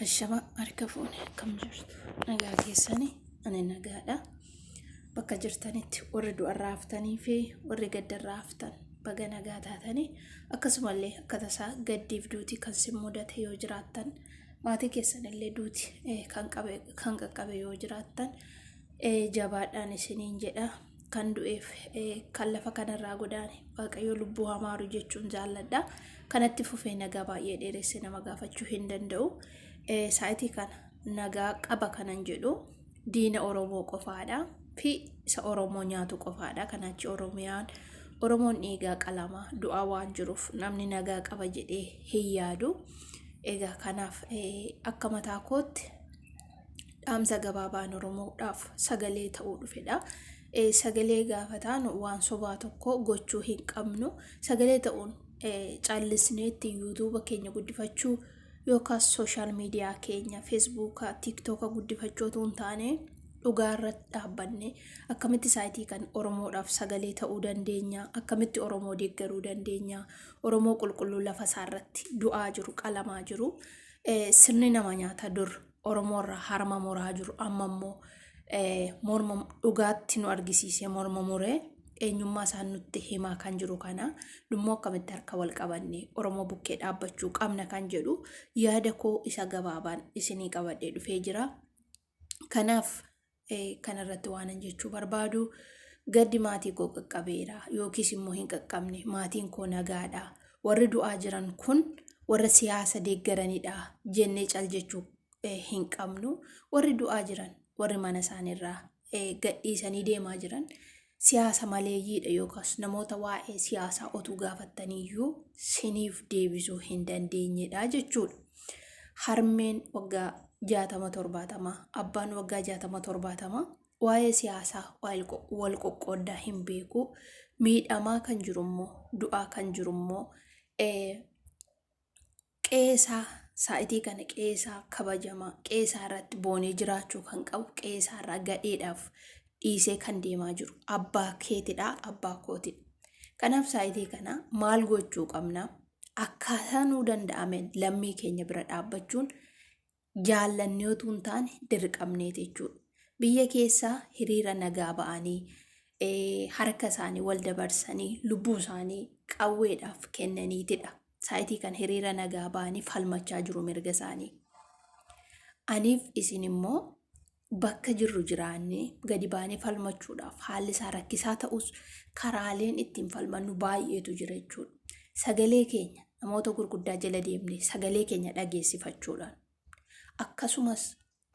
Ashama harka fuune akkam jirtu nagaa keessani ani nagaadha bakka jirtanitti warri du'arraa haftanii fi warri gaddarraa haftan baga nagaa taatanii akkasumallee akka tasaa gaddiif duuti kan sin mudate yoo jiraattan maatii keessanillee duuti eh, kan qabe- kan qaqqabe yoo jiraattan eh, jabaadhaan isiniin jedha kan du'eef kan lafa kanarraa godaane waaqayyo lubbuu hamaaru jechuun jaalladha. Kanatti fufee nagaa baay'ee dheeresse nama gaafachuu hin danda'u. Saayitii kana nagaa qaba kanan jedhu diina Oromoo qofaadha fi isa Oromoo nyaatu qofaadha. Kanaachi Oromiyaan Oromoon dhiigaa qalama du'aa waan jiruuf namni nagaa qaba jedhee hin yaadu. Egaa kanaaf akka mataa kootti dhaamsa gabaabaan Oromoodhaaf sagalee ta'uu dhufedha. Sagalee gaafa taanu waan sobaa tokko gochuu hin qabnu. Sagalee ta'uun callisneetti yuutuuba keenya guddifachuu yookaan sooshaal miidiyaa keenya feesbuuka, tiiktooka guddifachuu otoo hin taane dhugaa irratti dhaabbanne akkamitti saayitii kan Oromoodhaaf sagalee ta'uu dandeenya, akkamitti Oromoo deeggaruu dandeenya, Oromoo qulqulluu lafa isaa irratti du'aa jiru, qalamaa jiru. sirni nama nyaata dur Oromoo irraa harma muraa jiru amma immoo morma dhugaatti nu argisiisee morma muree eenyummaa isaa nutti himaa kan jiru kana dhummoo akkamitti harka wal qabanne Oromoo bukkee dhaabbachuu qabna kan jedhu yaada koo isa gabaabaan isinii qabadhee dhufee jira. Kanaaf Kana irratti waanan jechuu barbaadu gaddi maatii koo qaqqabeera yookiis immoo hin qaqqabne maatiin koo nagaadha warri du'aa jiran kun warra siyaasa deeggaranidha jennee cal jechuu eh, hin qabnu warri du'aa jiran warri mana isaaniirraa eh, gadhiisanii deemaa jiran siyaasa maleeyyiidha yookaas namoota waa'ee siyaasaa otuu gaafattaniiyyuu siniif deebisuu hin dandeenyedha jechuudha. Harmeen waggaa jaatama torbaatama, abbaan waggaa jaatama torbaatama waa'ee siyaasaa wal qoqqooddaa hin beeku. Miidhamaa kan jiru immoo, du'aa kan jiru immoo Qe'ee isaa, saa'itii kana qe'ee isaa kabajamaa, qe'ee isaa irratti boonee jiraachuu kan qabu, qe'ee isaa irraa gadheedhaaf dhiisee kan deemaa jiru abbaa keetidha, abbaa kootidha. Kanaaf saa'itii kana maal gochuu qabna? Akkaataa nuu danda'ameen lammii keenya bira dhaabbachuun jaallannee utuu hin taane dirqamneeti jechuudha. Biyya keessaa hiriira nagaa ba'anii eh, harka isaanii wal dabarsanii lubbuu isaanii qawweedhaaf kennaniitidha. Saayitii kan hiriira nagaa ba'anii falmachaa jiru mirga isaanii. Aniif isin immoo Bakka jirru jiraannee gadi baanee falmachuudhaaf haalli isaa rakkisaa ta'us karaaleen ittiin falmannu baay'eetu jira jechuudha. Sagalee keenya namoota gurguddaa jala deemne sagalee keenya dhageessifachuudhaan akkasumas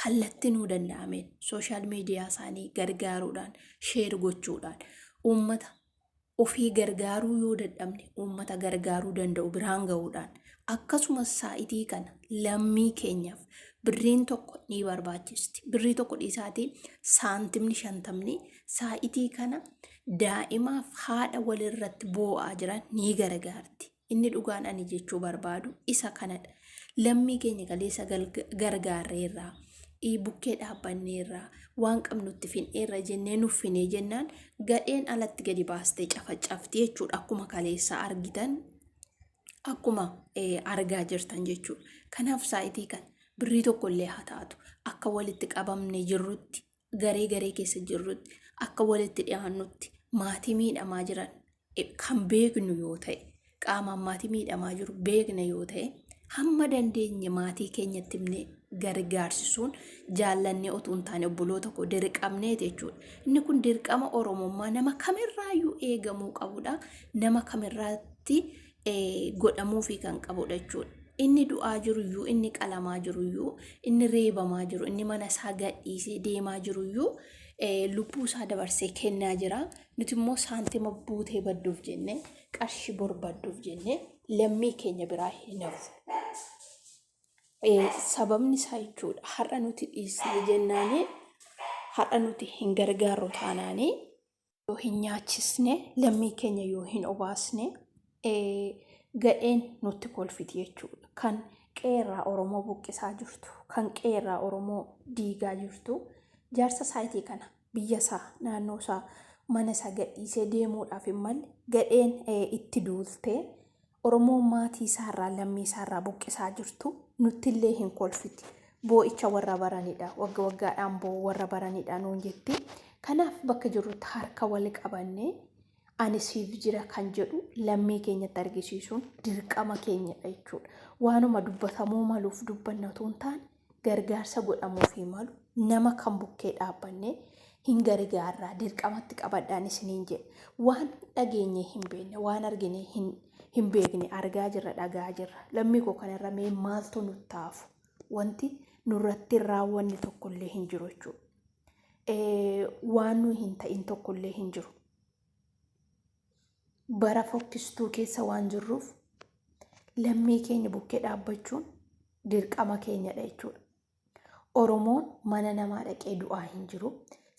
kallatti nuu danda'ameen sooshaal miidiyaa isaanii gargaaruudhaan sheer gochuudhaan uummata ofii gargaaruu yoo dadhabne uummata gargaaruu danda'u biraan ga'uudhaan akkasumas saa'itii kana lammii keenyaaf birriin tokko ni barbaachisti. Birrii tokko dhiisaatii saantimni shantamni saa'itii kana daa'imaaf haadha walirratti boo'aa jiran ni gargaarti. Inni dhugaan ani jechuu barbaadu isa kanadha. Lammii keenya kaleessa gargaarreerraa, bukkee dhaabbanneerraa, waan qabnutti finneerra jennee nuffinee jennaan gadheen alatti gadi baastee cafacafti jechuudha. Akkuma kaleessa argitan akkuma argaa jirtan jechuudha. Kanaaf saayitii kan birrii tokkollee haa taatu akka walitti qabamne jirrutti garee garee keessa jirrutti akka walitti dhiyaannutti maatii miidhamaa jiran eh, kan beeknu yoo ta'e qaamaan maatii miidhamaa jiru beekna yoo ta'e hamma dandeenye maatii keenyatti himnee gargaarsisuun jaallannee otuu hin taane obboloota koo dirqamneeti jechuudha. Inni kun dirqama Oromummaa nama kamirraayyuu eegamuu qabudha. Nama kamirraatti godhamuufii kan qabudha jechuudha. Inni du'aa jiruyyuu, inni qalamaa jiruyyuu, inni reebamaa jiru, inni mana isaa gadhiisee deemaa jiruyyuu lubbuu isaa dabarsee kennaa jira. Nuti immoo saantima buutee badduuf jennee, qarshii barbadduuf jennee lammii keenya biraa hin hafu. Sababni isaa jechuudha har'a nuti dhiisnee jennaanii har'a nuti hin gargaarru taanaanii yoo hin nyaachisne lammii keenya yoo hin obaasne gadheen nutti kolfiti jechuudha. Kan qeerraa Oromoo buqqisaa jirtu, kan qeerraa Oromoo diigaa jirtu jaarsa saayitii kana biyya isaa, naannoo isaa, mana isaa gadhiisee deemuudhaaf hin malle gadheen itti duultee Oromoo maatii isaa irraa, lammii isaa irraa buqqisaa jirtu nutti illee hin kolfiti. Boo'icha warra baranidha. Wagga waggaadhaan boo'u warra baranidha nuun jetti. Kanaaf bakka jirrutti harka wal qabannee ani siif jira kan jedhu lammii keenyatti argisiisuun dirqama keenyadha jechuudha. Waanuma dubbatamuu maluuf dubbanna otoo hin taane gargaarsa godhamuufii malu nama kan bukkee dhaabbanne hin gargaarraa dirqamatti qabadhaan isiniin jedhe waan dhageenyee hin beekne waan argine hin hin beekne argaa jirra dhagaa jirra lammii koo kanarra mee maaltu nu taafu wanti nurratti raawwanni tokkollee hin jiru jechuudha. Waan nu hin ta'in tokkollee hin jiru. Bara fokkistuu keessa waan jirruuf lammii keenya bukkee dhaabbachuun dirqama keenyadha jechuudha. Oromoon mana namaa dhaqee du'aa hin jiru.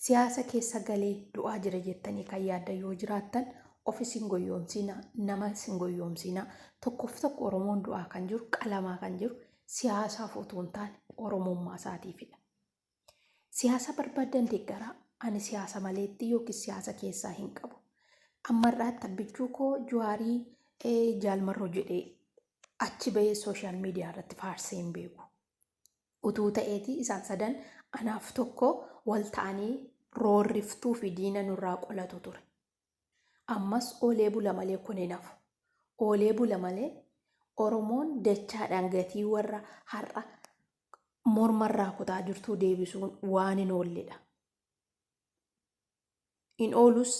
Siyaasa keessa galee du'aa jira jettanii kan yaaddan yoo jiraattan of isin goyyoomsiina, nama isin goyyoomsiina. Tokkoof tokko Oromoon du'aa kan jiru, qalamaa kan jiru siyaasaaf utuu hin taane Oromummaa isaatiifidha. Siyaasa barbaaddan deeggaraa. Ani siyaasa maleetti yookiis siyaasa keessaa hin qabu. Ammarraatti abbichuu koo Juwaarii jaalmarroo jedhee achi bahee sooshaal miidiyaa irratti faarsee hin beeku. Utuu ta'eeti isaan sadan anaaf tokko wal ta'anii roorriftuu fi diina nurraa qolatu ture. Ammas oolee bula malee kun hin hafu. Oolee bula malee Oromoon dachaadhaan gatii warra har'a mormarraa kutaa jirtuu deebisuun waan hin oolledha. Hin oolus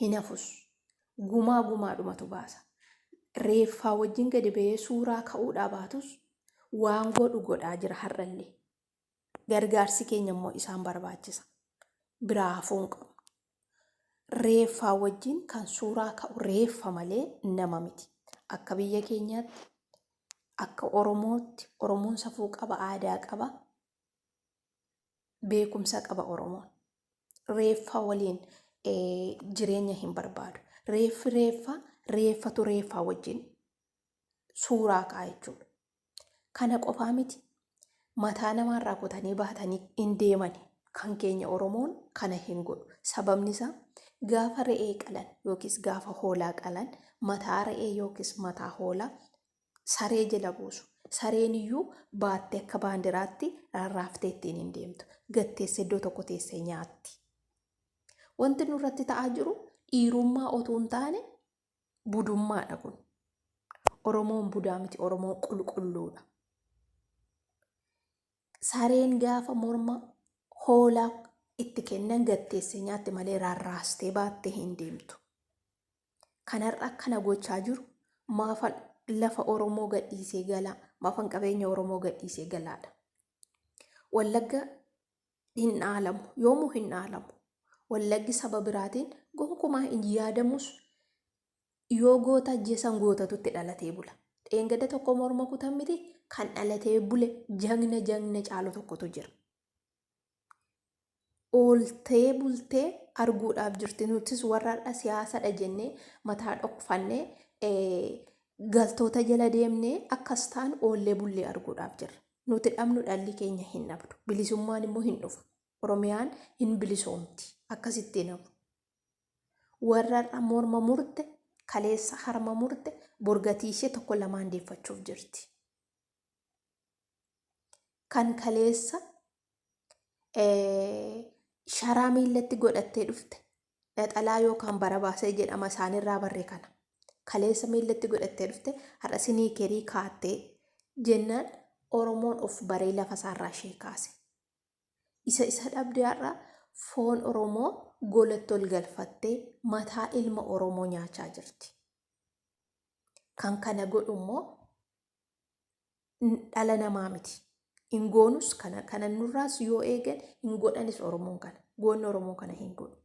hin hafus gumaa gumaadhumatu baasa. Reeffaa wajjin gadi ba'ee suuraa ka'uudhaa baatus waan godhu godhaa jira har'allee. Gargaarsi keenya immoo isaan barbaachisa. Biraa hafuu hin qabnu. Reeffaa wajjin kan suuraa ka'u reeffa malee nama miti. Akka biyya keenyaatti, akka Oromootti, Oromoon safuu qaba, aadaa qaba, beekumsa qaba Oromoon. Reeffa waliin eh, jireenya hin barbaadu. Reeffi reeffa, reeffatu reeffaa wajjin suuraa ka'a jechuudha. Kana qofaa miti. Mataa namaarraa kutanii baatanii hin deemani. Kan keenya Oromoon kana hin godhu. Sababni isaa gaafa re'ee qalan yookiis gaafa hoolaa qalan mataa re'ee yookiis mataa hoolaa saree jala buusu. Sareen iyyuu baattee akka baandiraatti rarraaftee ittiin hin deemtu. Gatteessa iddoo tokko teessee nyaatti. Wanti nurratti ta'aa jiru dhiirummaa otuu hin taane budummaadha kun. Oromoon budaa miti Oromoon qulqulluudha. Sareen gaafa morma hoolaa itti kennan gatteessee nyaatte malee rarraastee baattee hin deemtu. Kanarra akkana gochaa jiru maafa lafa Oromoo gadhiisee galaa maafan qabeenya Oromoo gadhiisee galaadha. Wallagga hin dhaalamu yoomuu hin dhaalamu wallaggi saba biraatiin gonkumaa hin yaadamus yoo goota ajjeesan gootatutti dhalatee bula dheengada tokko morma kutan miti kan dhalatee bule jagna jagna caalu tokkotu jira ooltee bultee arguudhaaf jirti nutis warraadha siyaasadha jennee mataa dhokfannee galtoota jala deemnee akkas taan oollee bullee arguudhaaf jirra Nuti dhabnu dhalli keenya hin dhabdu. Bilisummaan immoo hin dhufa. Oromiyaan hin bilisoomti. Akkasitti hin hafu. Warra har'a morma murte, kaleessa harma murte, borgatii ishee tokko lamaan deeffachuuf jirti. Kan kaleessa sharaa miillatti godhattee dhufte Naxalaa yookaan barabaasee jedhama isaanirraa barre kana. Kaleessa miillatti godhattee dhufte har'a siniikerii kaatte jennaan Oromoon of baree lafa isaarraa ishee kaase. Isa isa dhabde har'a foon Oromoo golatti ol galfattee mataa ilma Oromoo nyaachaa jirti. Kan kana godhu immoo dhala namaa miti. Hin goonus kana kana nurraas yoo eegan hin godhanis Oromoon kana. Goonni Oromoo kana hin godhu.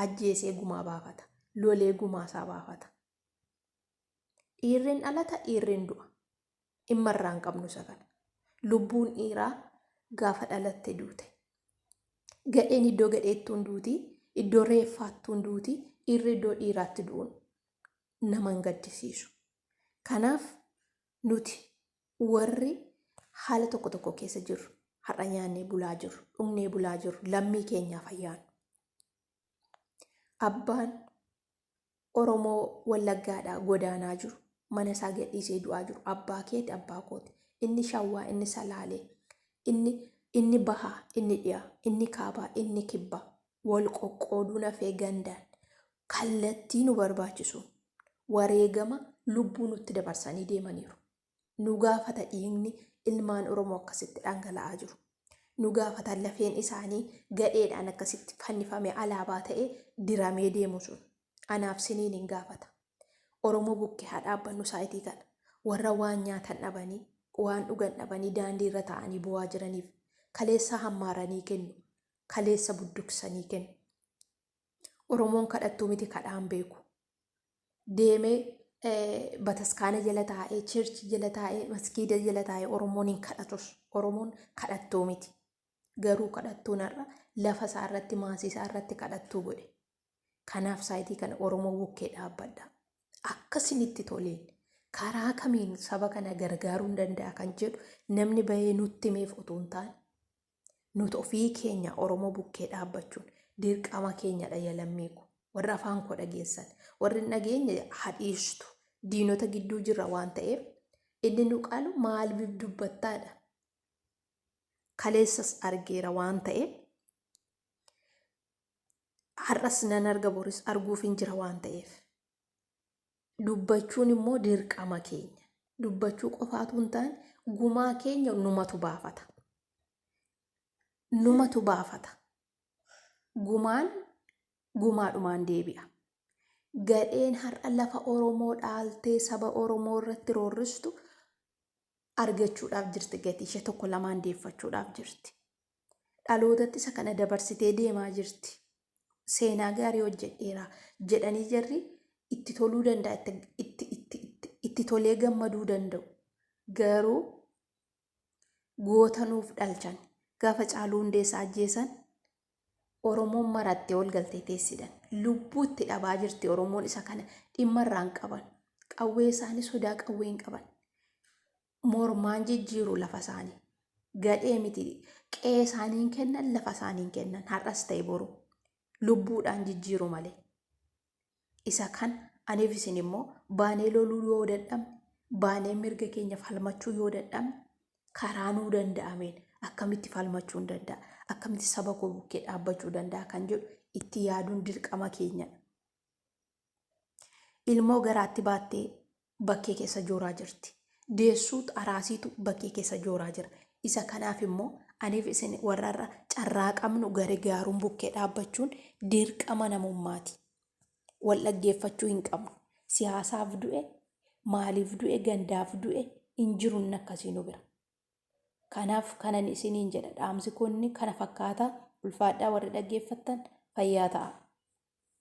Ajjeesee gumaa baafata. Lolee gumaa isaa baafata. Dhiirriin dhalata dhiirriin du'a. Dhimma irraa hin qabnu isa kana. Lubbuun dhiiraa gaafa dhalatte duute. Gadheen iddoo gadheettuun duuti, iddoo reeffaattuun duuti, dhiirri iddoo dhiiraatti du'uun nama hin gaddisiisu. Kanaaf nuti warri haala tokko tokko keessa jirru har'a nyaannee bulaa jirru dhugnee bulaa jirru lammii keenyaaf ayyaanu. Abbaan Oromoo Wallaggaadhaa godaanaa jiru mana isaa gadhiisee du'aa jiru abbaa keeti abbaa kooti inni shawwaa inni salaalee inni inni bahaa inni dhiyaa inni kaabaa inni kibbaa wal qoqqooduu nafee gandaan kallattii nu barbaachisuun wareegama lubbuu nutti dabarsanii deemaniiru. Nu gaafata dhiigni ilmaan Oromoo akkasitti dhangala'aa jiru. Nu gaafata lafeen isaanii gadheedhaan akkasitti fannifamee alaabaa ta'ee diramee deemu sun. Anaaf siniin hin gaafata. Oromoo bukkee haa dhaabbannu saayitii kana. Warra waan nyaatan dhabanii, waan dhugan dhabanii daandii irra taa'anii boo'aa jiraniif kaleessaa hammaaranii kennu, kaleessa budduksanii kennu. Oromoon kadhattuu miti kadhaan beeku. Deemee bataskaana jala taa'ee, chirchi jala taa'ee, maskiida jala taa'ee Oromoon hin kadhatus. Oromoon kadhattuu miti. Garuu kadhattuun har'a lafa isaa irratti maasii isaa irratti kadhattuu godhe. Kanaaf saayitii kana Oromoo bukkee dhaabbadha. Akkasinitti toleen karaa kamiin saba kana gargaaruun danda'a kan jedhu namni bahee nutti meef utuu hin taane Nuti ofii keenya Oromoo bukkee dhaabbachuun dirqama keenyadha ya lammiiko. Warri afaan koo dhageessan, warri hin dhageenye ha dhiistu. Diinota gidduu jirra waan ta'eef inni nu qalu maal bif dubbattaadha. Kaleessas argeera waan ta'eef har'as nan arga boris arguufin jira waan ta'eef. dubbachuun immoo dirqama keenya. Dubbachuu qofaatu hin taane gumaa keenya numatu baafata. Numatu baafata. Gumaan gumaadhumaan deebi'a. Gadheen har'a lafa Oromoo dhaaltee saba Oromoo irratti roorristu argachuudhaaf jirti gatii ishee tokko lamaan deeffachuudhaaf jirti dhalootatti isa kana dabarsitee deemaa jirti seenaa gaarii hojjedheera jedhanii jarri itti toluu danda'a itti, itti, itti, itti, itti tolee gammaduu danda'u garuu goota nuuf dhalchan gaafa caaluu hundeessaa ajjeesan Oromoon marattee ol galtee teessidan. Lubbuu itti dhabaa jirti Oromoon isa kana dhimma irraan qaban. Qawwee isaanii sodaa qawwee hin qaban. Mormaan jijjiiru lafa isaanii. Gadhee miti qe'ee isaanii hin kennan lafa isaanii hin kennan har'as ta'e boru. Lubbuudhaan jijjiiru malee. Isa kan aniif isin immoo baanee loluu yoo dadhabne, baanee mirga keenya falmachuu yoo dadhabne, karaa nuu danda'ameen akkamitti falmachuun danda'a, akkamitti saba koo bukkee dhaabbachuu danda'a kan jedhu itti yaaduun dirqama keenyadha. Ilmoo garaatti baattee bakkee keessa jooraa jirti. Deessuut araasiitu bakkee keessa jooraa jira. Isa kanaaf immoo aniif isin warra irra carraa qabnu garigaaruun bukkee dhaabbachuun dirqama namummaati. Wal dhaggeeffachuu hin qabnu. Siyaasaaf du'e, maaliif du'e, gandaaf du'e hin jiru inni akkasii nu bira. Kanaaf kanan isiniin jedha dhaamsi kun kana fakkaata ulfaadhaa warri dhaggeeffattan fayyaa ta'a.